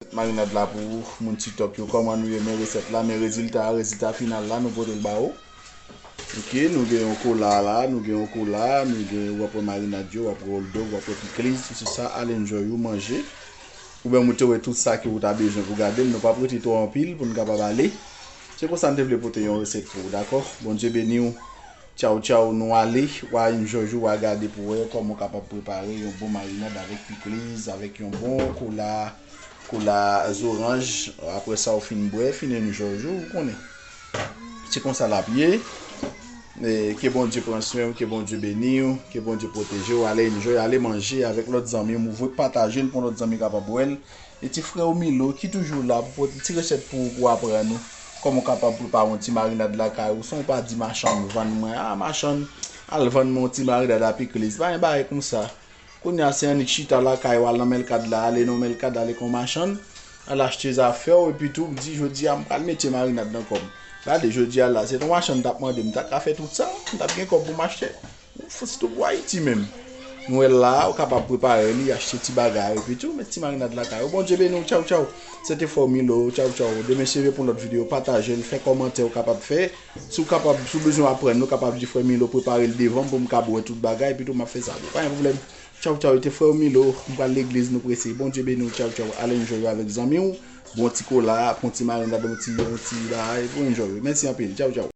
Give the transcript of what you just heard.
Met marinad la pou moun tiktok yo koman nou ye men reset la men rezilta a rezilta final la nou potel ba ou ok nou gen yon kola la nou gen yon kola nou gen wap wè marinad yo wap wè oldog wap wè pikliz tout se sa al enjoy ou manje ou menm ou te wè tout sa ke ou ta bezwen pou gadel nou pap rete twò anpil poun kapab ale se konsa nou te vle pote yon reset pou ou dakò Bondye beniw. Tchaw tchaw nou ale wa yn jòj ou wa gade pou wè kòman ou kapab prepare yon bon marinad avèk pikliz avèk yon bon kola kola zoranj aprè sa ou fin bwè fin yn jòj ou ou konnen se konsa lap ye ke Bondye pran swenw ke Bondye beniw ke Bondye pwotejew ale yn jòj ale manje avèk lòt zanmiw ou vwe patajel pou lòt zanmi kapab wèl. E ti frè ou Milo ki toujou la pou pot ti resèt pou ou pou aprann ou kòman ou kapab prepare yon ti marinad lakay ou san ou pa di machann vann mwen a machann al vann mwen yon ti marinad a pikliz pa gen bagay konsa kounye a se annik chita lakay ou al nan Melkad la ale nan Melkad ale kon machann al achte zafè ou epi tou di jodi a m pral mete marinad nan kò m gade jodi a la se ton machann m t ap mande m ta ka fè tout sa m t ap gen kòb pou m achte Ou fout stop pou Ayiti menm. Nou wè la a, ou kapab prepare li, achte ti bagay, epi tou met ti marinad lakay ou. Bondye beni w, tchaw tchaw. Se te Fò Milo, tchaw tchaw. Demen se jwe pou yon lòt videyo. Pataje l, fè kòmantè ou kapab fè. Si w kapab, si w bezwen aprann, ou kapab di frè Milo prepare l devan m pou m kab wè tout bagay, epi tou m ap fè sa pou ou. Pa gen pwoblèm. Tchaw tchaw, e te frè ou Milo, m pral legliz nou prese. Bondye beni w, tchaw tchaw. Al enjoy ou avèk zanmi w, bon ti kola, pran yon ti marinad, yon ti, yon ti bagay, pou enjoy ou. Mèsi anpil, tchaw tchaw.